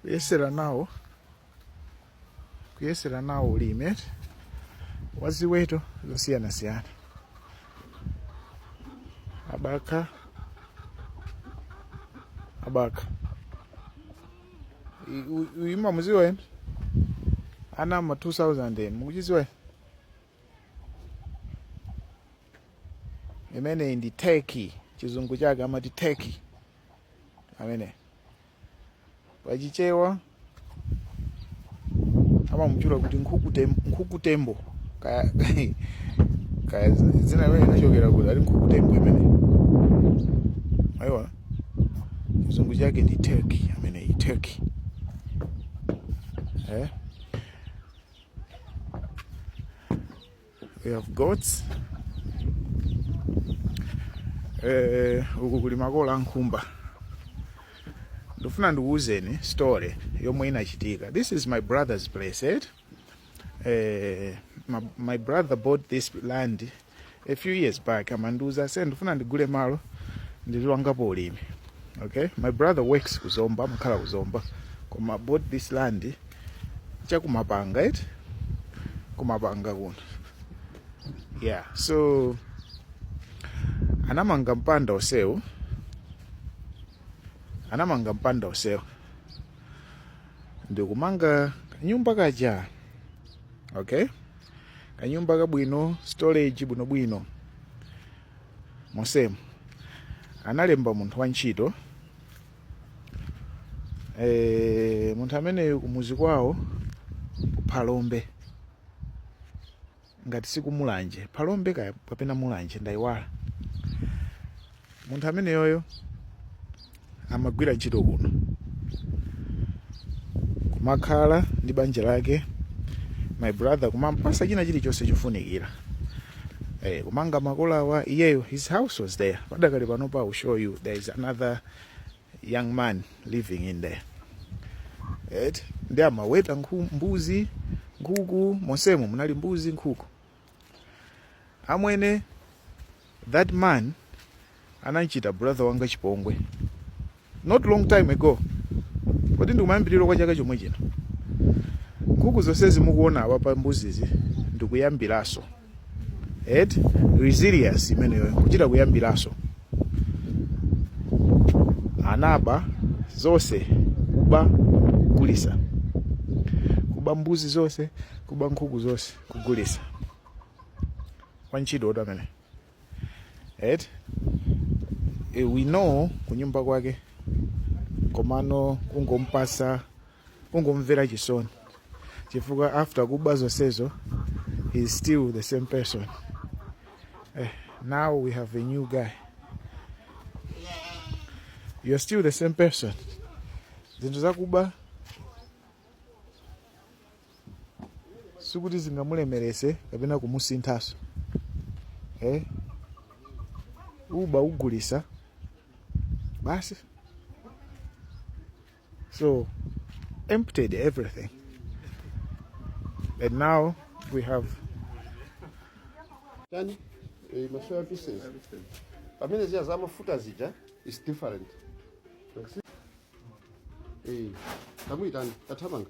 kuyesera nawo kuyesera nawo ulimi wa ziweto zosiyanasiyana abakha abakha I- u- uyu mumamuziwa ena ana ma 2000 ena mukuchiziwa inu imeneyi ndi turkey chizungu chake amati turkey amene pachichewa amamutchula kuti nkhukutem- nkhukutembo kaya kaya dzina limeneli linachokera kuti ali nkhukutembo imene ayiwa chizungu chake ndi turkey ameneyi turkey eh? we have goats eh, uku kuli makola a nkhumba ndifuna ndikuwuzeni story yomwe inachitika this is my brother's place eh? eh, my, my brother bought this land a few years back amandiuza ase ndifuna ndigule malo ndizipangapo ulimi okay my brother works ku zomba amakhala ku zomba koma bought this land chakumapanga eti kumapanga kuno yeah so anamanga mpanda onsewu anamanga mpanda onsewu ndikumanga kanyumba kaja okay kanyumba kabwino storage bwinobwino monsemu analemba munthu wantchito e, munthu ameneyu kumuzi kwawo kuphalombe ngati sikumulanje phalombe kaya kapena mulanje ndayiwala Munthu ameneyoyo amagwira ntchito kuno, kumakhala ndi banja lake, my brother kumampasa china chilichonse chofunikira eh, kumanga makolawa iyeyo his house was there. Padakali panopa I will show you there is another young man living in there eti, ndi amaweta nkhu, mbuzi nkhuku, monsemo munali mbuzi nkhuku Amwene that man anamchita brother wanga chipongwe not long time ago kodi ndikumayambiliro kwa chaka chomwe chino nkhuku zonsezi mukuona apapa mbuzizi ndikuyambilaso eti resilience imeneyo kuchita kuyambilaso anaba zonse kuba kugulisa kuba mbuzi zonse kuba nkhuku zonse kugulisa wantchito tu amene et e, we know kunyumba kwake komano ungompasa ungomvera chisoni chifukwa after kuba zonsezo he is still the same person eh, now we have a new guy you're still the same person zinthu zakuba sikuti zingamulemerese kapena kumusinthaso eh? uba ugulisa basi so emptied everything and now we have Tani? Eh, ma soya pieces. Pamene zija za mafuta zija is different. Eh, kamuyitani, kathamanga.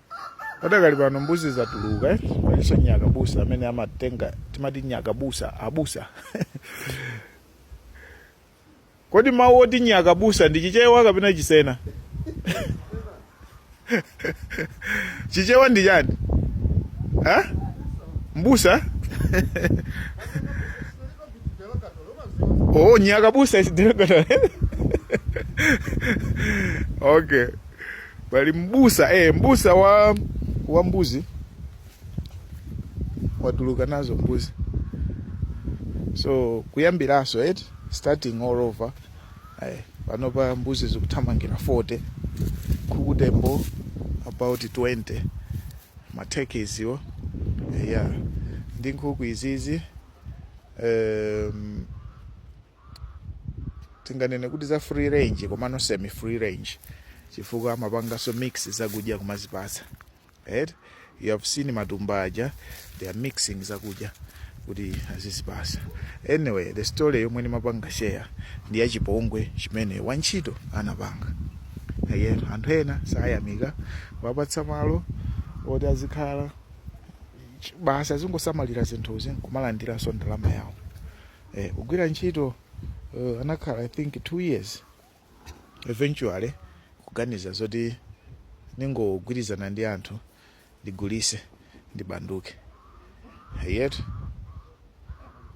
Padakali pano mbuzi zatuluka eh? Aliso nyakabusa amene amatenga timati nyakabusa abusa kodi mawu oti nyakabusa ndi chichewa kapena chisena chichewa ndi chiyani ha? mbusa oh nyakabusa is derogatory okay pali mbusa eh, mbusa wa wa mbuzi watuluka nazo mbuzi so kuyambiranso eti starting all over eh, panopa mbuzi zikuthamangira 40 nkhukutembo about 20 ma turkeys iwo yeah ndi nkhuku izizi um, tinganene kuti za free range komano semi free range chifukwa amapanganso mix zakudya kumazipatsa right? you have seen matumba aja they are mixing zakudya kuti azizipatsa anyway the story yomwe ndimapanga share ndi ya chipongwe chimene wantchito anapanga again anthu ena sayamika wapatsa malo oti azikhala basi azingosamalira zinthuzi nkumalandiranso ndalama yawo Eh, kugwira ntchito uh, anakhala I think two years eventually kuganiza zoti ningogwirizana ndi anthu ndigulise ndibanduke yet